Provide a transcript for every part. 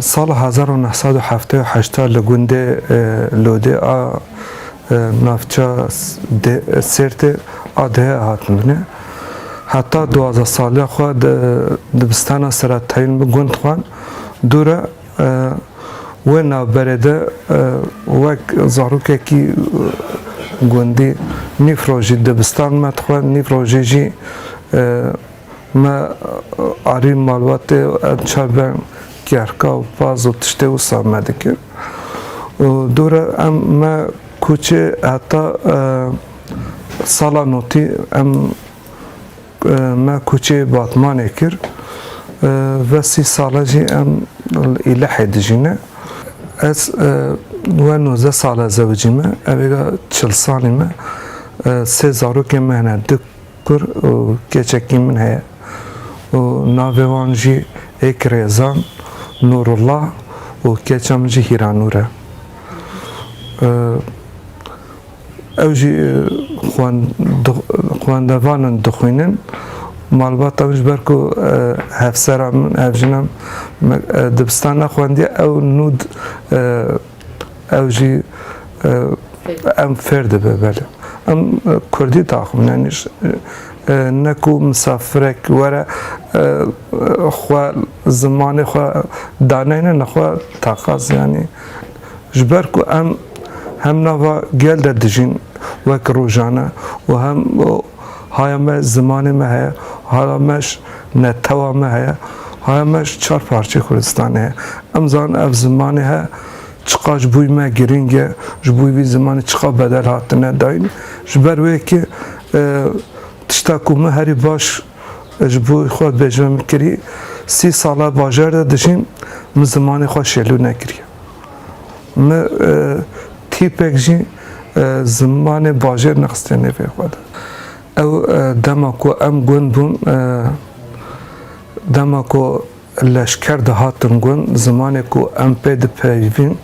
Sala hezar û neh sed û heftê û heşt de li gundê Lodê a navça Sêrtê a dihê hatin binê. Heta duwazdeh saliya xwe di dibistana Seretayîn bi gund xwend. Dû re Wê navberê de wek zarokekî gundî nîv rojî dibistan me dixwe, nîv rojî jî me arî malbatê û em çar be kêhrka û paz û tiştê wisa me dikir. Dûre em me kûçê heta sala notî em Me koçê Batmanê kir. Ve sî sal e jî em li Îlehê dijî ne. Ez we nozdeh sal e zewicî me. Evêga çil salî me. Sê zarokên me hene du kur û keçekî min heye. Û navê wan jî êk Rêzan, Nûrullah û keça min jî Hîranûr e. Ew jî xwendevan in dixwînin. Malbata min ji ber ku hevsera min, hevjina min dibistan nexwendiye ew nû ew jî em fêr dibe belê. Em kurdî daxivin yanî ne ku misafirek were xwe zimanê xwe daneyne nexwe taqaz yanî Ji ber ku em hem nava gel de dijîn wek rojane û hem haya me zimanê me heye, haya me ji netewa me heye, haya me ji çar parçeyê Kurdistanê heye. Em zanin ev zimanê he çiqas ji bo me girîng e, ji bo vî zimanê çiqas bedel hatine dayîn. Ji ber wê yekê tişta ku min herî baş Ji bo xwe bêjme min kirî, sî sal e bajar de dijîm, min zimanê xwe şêlû nekiriye. Min tîpek jî zimanê bajêr nexistiye nêvê xwe de. Ew dema ku em gund bûn, dema ku leşker de hatin gund, zimanê ku em pê dipeyivîn,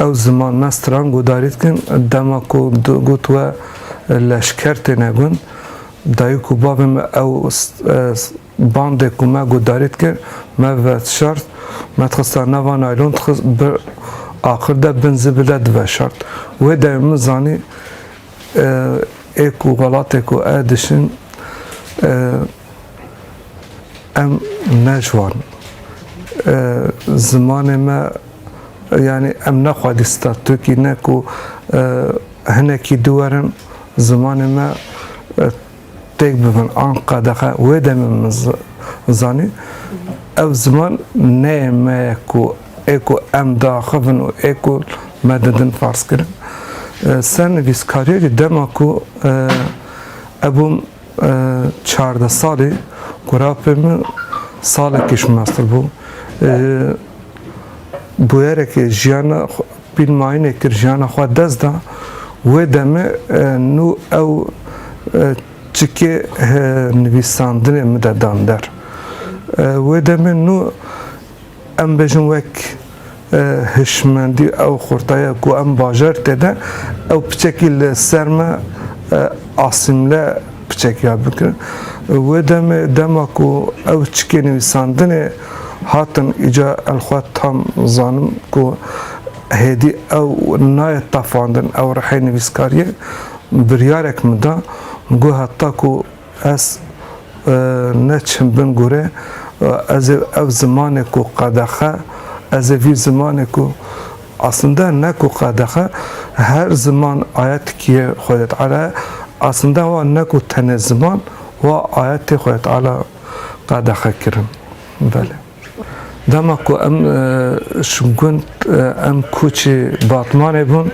ew ziman me stran guhdarî dikin, dema ku digot we leşker têne gund, Dayik û bavê me ew bandê ku me guhdarî dikir me veşart, me dixista nava naylon dixist bir axir de bin zibil de diveşart. Wê demê min zanî ê ku welatê ku ez dişin em ne ciwan in. Zimanê me yanî em ne xwedî statûkî ne ku hinekî dû werin Zimanê me têk bibin an qedexe wê demê min zanî ev ziman neyê me ye ku ê ku em diaxivin û ê ku me didin farzkirin. Sernivîskarî jî dema ku ez bûm çardeh salî ku rapê min salekî ji master bû ji bûyerekê jiyana Pîlmayînê kir jiyana xwe dest da wê demê nû ew çikê hi nivîsandinê min de dan der. Wê demê nû em bêjin wek hişmendî ew xurtaya ku em bajarî tê de ew piçekî li ser me asîmle piçekiya bikin. Wê demê dema ku ew çikê nivîsandinê. Hatim îca el xwe tam zanim ku hêdî ew nayê tafandin ew rihê nivîskariyê biryarek min da got heta ku ez ne çim bin gorê ez ê ev zimanê ku qedexe ez ê vî zimanê ku aslinde ne ku qedexe her ziman aya tikiyê Xwedê Teala ye aslinde wa ne ku tenê ziman wa ayetê Xwedê Teala qedexe kirin. Belê. Dema ku em e, ji gund e, em koçê Batmanê bûn,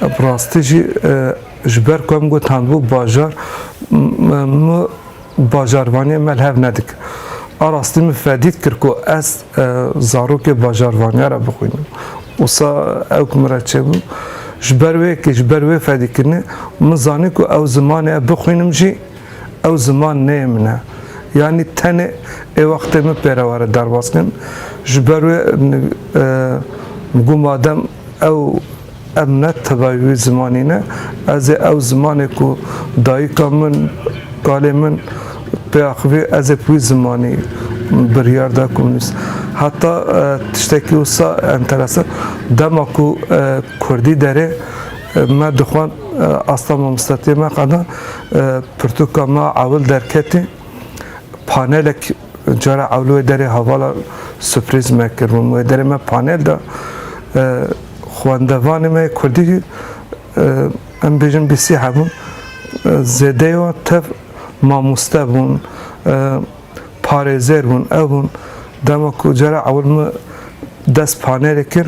bi rastî jî e, ji ber ku em gotandbû bajar min bajarvaniyê me li hev nedik. A rastî min fedî dikir ku ez zarokê bajarvaniya re bixwînim. Wisa ew ku min re çêbû ji ber wê yekê ji ber wê fedîkirinê min zanî ku ew zimanê bixwînim jî Ew ziman neyê min e. Yanî tenê ê wextê min pêre were derbas kirin. Ji ber wê got madem ew em ne tevayî wî zimanî ne, ez ê ew zimanê ku dayika min, kalê min pê axivî ez ê bi wî zimanî biryar da ku min nivîs. Heta tiştekî wisa enteresan, dema ku kurdî derê me dixwend asta mamostetiyê me qeda Pirtûka me ewil derketî, panelek cara ewil wê derê hevala suprîz me kir. Min wê derê me panel da. Xwendevanê me yê Kurdî em bêjin bî sî hebûn. Zêdeyê wan tev mamoste bûn, parêzer bûn, ev bûn. Dema ku cara ewil min dest panelê kir,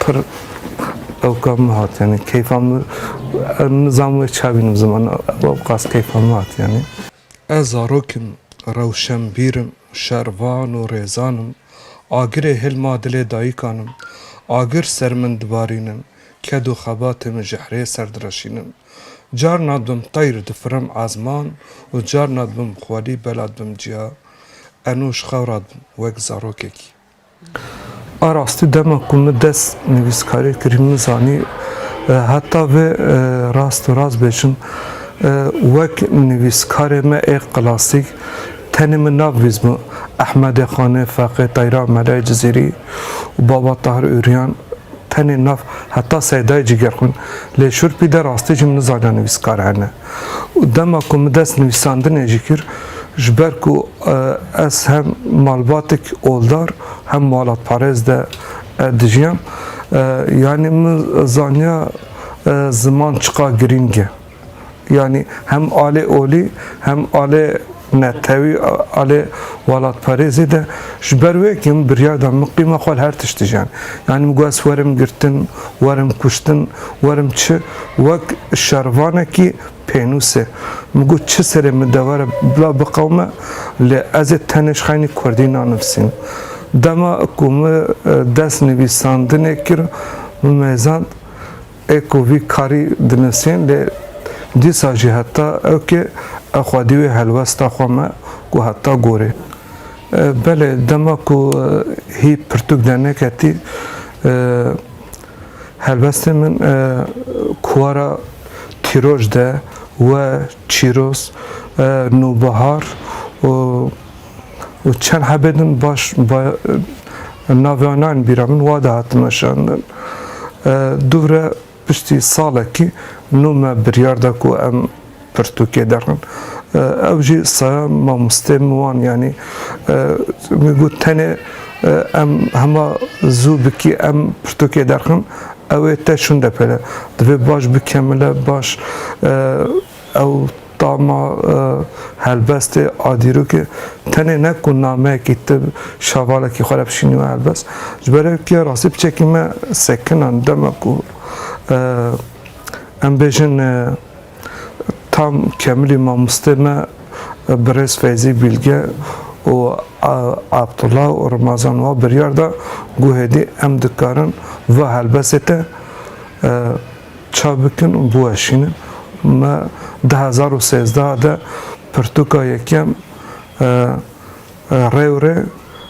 pir ewka min hat yanî keyfa min nizam wê ça bînim ziman ewqas keyfa min hat yanî. Ez zarok im, rewşenbîr im, şervan û rêzan im, agirê hêl ma dilê dayîkan im, agir ser min dibarînin, ked û xebatê min ji herê ser direşînin. Carna dibim teyr difirim ezman û carna dibim xwelî bela dibim ciya, enû ji xewra dibim wek zarokekî. A rastî dema ku min dest nivîskariyê kirî min zanî heta vê rast û rast bêjim wek nivîskarê me ê klasîk tenê min nav vîzbû Ehmedê Xanê, Feqê Teyra, Melayê Cizîrî û Baba Tahir Ûrîyan tenê nav heta Seydayê Cîgerxwîn lê şûrpî de rastî jî min nizaniya nivîskar hene. û dema ku min dest nivîsandinê jî kir ji ber ku ez hem malbatek oldar hem malatparêz de dijiyam yanî min zaniya ziman çiqa girîng e yanî hem alê olî hem alê Netewî a lê welatparêzê de ji ber wê ke min biryar da miqîma xwe li her tiştî jiyan. Yanî min got ez werim girtin, werim kuştin, werim çi wek şervanekî pênûs e. Min got çi serê min dewere bila biqewime lê ez ê tenê ji xeynî kurdî nanivîsînim. Dema ku min dest nivîsandinê kir min mêzand. Ê ku vî karî dinisîn lê dîsa jî heta ewkê ew xwedî wê helwesta xwe me ku heta gorê. Belê dema ku hî pirtûk derneketî helwestên min kuwara Tîroj de we Çîroz, Nûbihar û. û çend hebê din baş navê wan nayên bîra min wa de hatin weşandin. Dûvre piştî salekî nû me biryar da ku em pirtûkê derin. Ew jî saya mamosteyên min wan yanî min got tenê em hema zû bikî em pirtûkê derxin ew ê te şûnde pere. Divê baş bikemile baş Ew tama helbestê a dîrokê tenê ne ku nameyekî ti şavalekî xwe re bişînî wê helbest, ji ber ew ke rastî piçekî me sekinan dema ku em bêjin tam kemilî mamostê me birêz Feyzî Bîlge û Abdullah û Rimazan wa biryar da ku hêdî em dikarin va helbestê te Ça bikin û biweşînin. Me du hezar û sêzdeh de pirtûka yekem Rewrê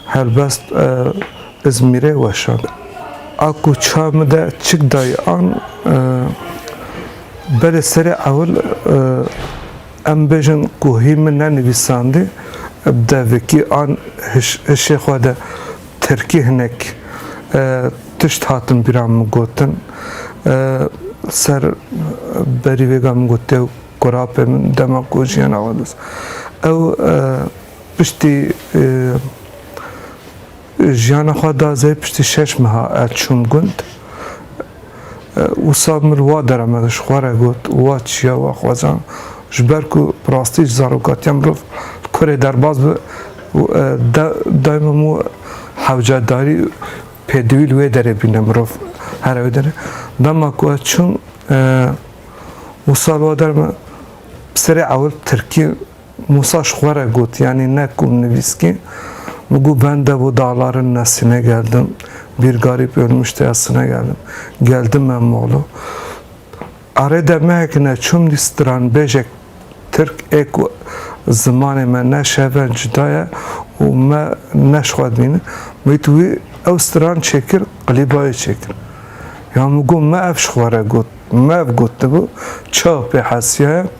Helbest Izmîrê weşand. A ku ça min de çik dayî an belê serê ewil em bêjin ku hî min nenivîsandî, devekî an hişê xwe de Tirkî hinek tişt hatin bîra min gotin. Ser berî vêga min got dêw kurapê min dema ku jiyana wan dest. Ew piştî jiyana xwe da zê piştî şeş meha ez çûm gund. Wisa min wa deremek ji xwe re got û wa çiya we xwezan, ji ber ku bi rastî ji zarokatiya mirov li kurê derbas be û daîma min we hewcedarî û pêdivî li wê derê bîne mirov here wê derê. Dema ku ez çûm wisa li wa derem bi serê ewil tirkî Mûsa ji xwe re got, Yanî ne ku nivîskî bi ku ben dev û dalarin ne Sîne geldim, bîr garîb Ôlmuştê ya Sîne geldim, geldim me Moğlo. Arê de mehek ne çûm dî stranbêjek Tirk ê ku zimanê me ne şeve cuda ye û me ne ji xwe dibîne, got wî ew stran çêkir qilîbayê çêkir. Yan min got me ev ji xwe re got, me ev gotibû, çawa pê hesiyaya?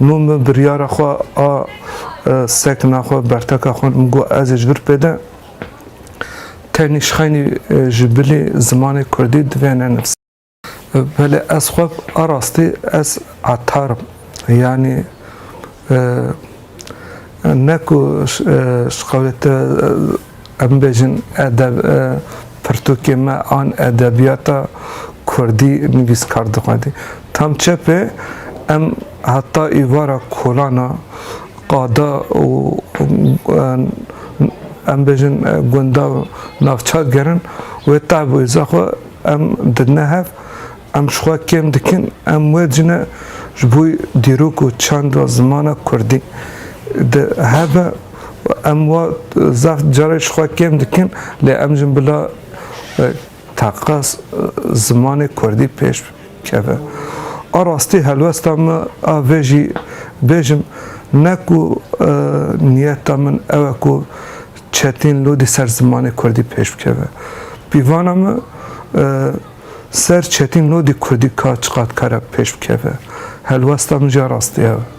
Min bi biryara xwe a sekna xwe, berteka xwe min got ez ê ji vir pêde tenê ji xeynî ji bilê zimanê kurdî divê nenivîsim. Belê ez xwe a rastî ez etar im. Yanî ne ku ji qewlê te Em bibêjin edeb e pirtûkê me an edebiyata kurdî nivîskar dixwedî. Tam çepê em heta îvara kolana qada û em bêjin gunda navçak gerin wê tevwêza xwe em didine hev Em ji xwe kêm dikin, em wecî ne ji bo dîrok û çand a zimana kurdî di hebe û em wa zaf carê ji xwe kêm dikin lê em jin bila taqa zimanê kurdî pêş keve. A rastî helwesta min a vê jî bêjim ne ku niyeta min ew e ku çetîn lodî ser zimanê kurdî pêş bikeve. Pîvana min Ser Çetîn Lodî Kurdî ka çiqad kare bi pêş bikeve, helwesta min jî rastî ew e.